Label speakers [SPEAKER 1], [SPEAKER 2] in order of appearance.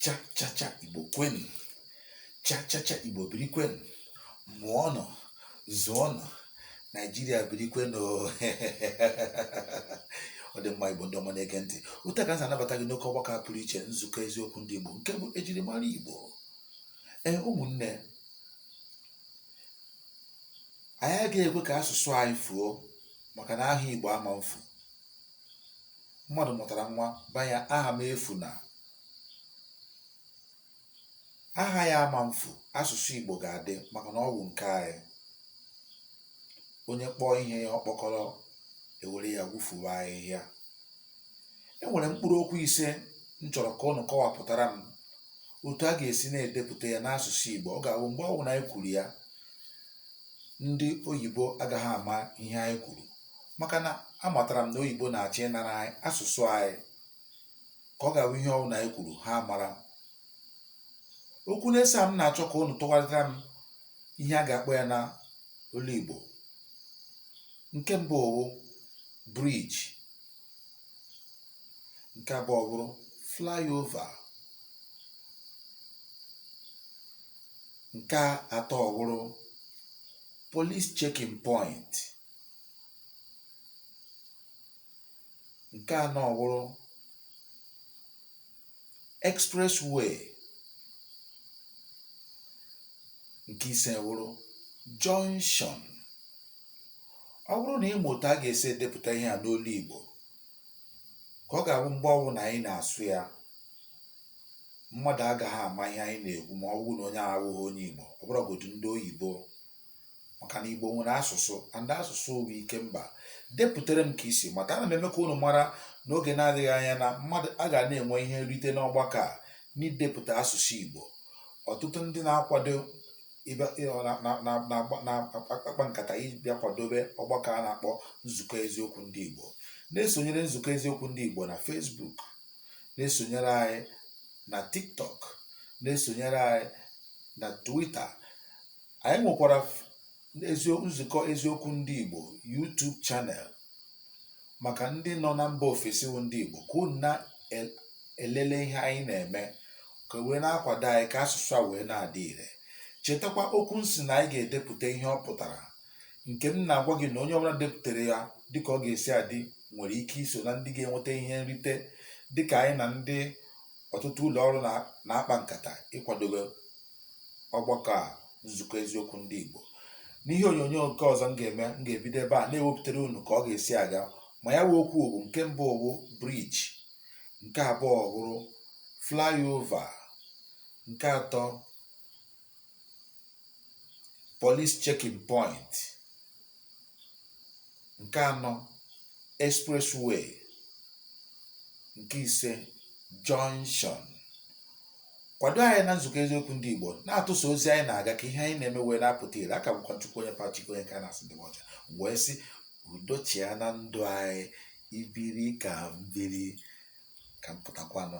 [SPEAKER 1] chachacha igbo kwenu chachacha igbo biri kwenu mụọnụ zụọnụ naijiria biri kwenu ọ dị mma igbo ndị ọma na-ege ntị otu a ka m si anabata gị n'oke ọgbakọ a pụrụ iche nzukọ eziokwu ndị igbo nke bụ ejirimara igbo ee ụmụnne anyị agaghị ekwe ka asụsụ anyị fuo maka na aha igbo ama mfu mmadụ mụtara nwa baa ya aha m efu na aha ya ama mfu asụsụ igbo ga-adị maka na ọ bụ nke anyị onye kpọọ ihe ya ọkpọkọrọ e were ya gwufuwa ahịhịa e nwere mkpụrụ okwu ise m chọrọ ka unu kọwapụtara m otu a ga-esi na-edepụta ya n'asụsụ igbo ọ ga-abụ mgbe ọbụla anyị kwuru ya ndị oyibo agaghị ama ihe anyị kwuru maka na amatara m na oyibo na-achọ ịnara anyị asụsụ anyị ka ọ ga-abụ ihe ọbụla anyị kwuru ha mara okwu ise a m na-achọ ka unu tụgharịtara m ihe a ga-akpọ ya na olu igbo nke mbụ ọ wụ bridge nke abụọ bụrụ flyover nke atọ bụrụ police checking point nke anọ ọ wụrụ expressway nke ise wụrụ junction ọ bụrụ na ị ma otu a ga-esi edepụta ihe a n'olu Igbo ka ọ ga-abụ mgbe ọwụla anyị na-asụ ya mmadụ agaghị ama ihe anyị na-ekwu ma ọ bụrụ na onye ahụ awụghị onye Igbo ọ bụrụgodu ndị oyibo maka na Igbo nwere asụsụ and asụsụ bụ ike mba depụtara m ka i si mata ana m eme ka unu mara n'oge na-adịghị anya na mmadụ aga na-enwe ihe nrite n'ọgbakọ a n'idepụta asụsụ Igbo ọtụtụ ndị na-akwado na-akpa nkata ịbịa kwadobe ọgbakọ a na-akpọ nzukọ eziokwu ndị Igbo na-esonyere nzukọ eziokwu ndị Igbo na Facebook na-esonyere anyị na TikTok na-esonyere anyị na Twitter Anyị nwekwara f- ezio nzukọ eziokwu ndị Igbo YouTube channel maka ndị nọ na mba ofesi bụ ndị Igbo ka unu na-elele ihe anyị na-eme ka wee na-akwado anyị ka asụsụ a wee na-adị ire chetakwa okwu m sị na anyị ga-edepụta ihe ọ pụtara nke m na-agwa gị na onye ọbụla depụtara ya dịka ọ ga-esi adị nwere ike iso na ndị ga-enweta ihe nrite dịka anyị na ndị ọtụtụ ụlọ ọrụ na- na-akpa nkata ịkwadobe ọgbakọ a nzukọ eziokwu ndị Igbo n'ihe onyonyo nke ọzọ m ga-eme m ga-ebido ebe a na-ewepụtara unu ka ọ ga-esi aga ma ya wee okwu bụ nke mbụ bụ bridge nke abụọ bụrụ flyover nke atọ police checking point nke anọ expressway nke ise junction kwado anyị na nzukọ eziokwu ndị Igbo na-atụsa ozi anyị na-aga ka ihe anyị na-eme wee na-apụta ire aka bụkwa chukwu onye pachiko onye ka a na-asị ndị ọcha wee sị udo chịa na ndụ anyị i biri ka m biri ka m pụtakwanụ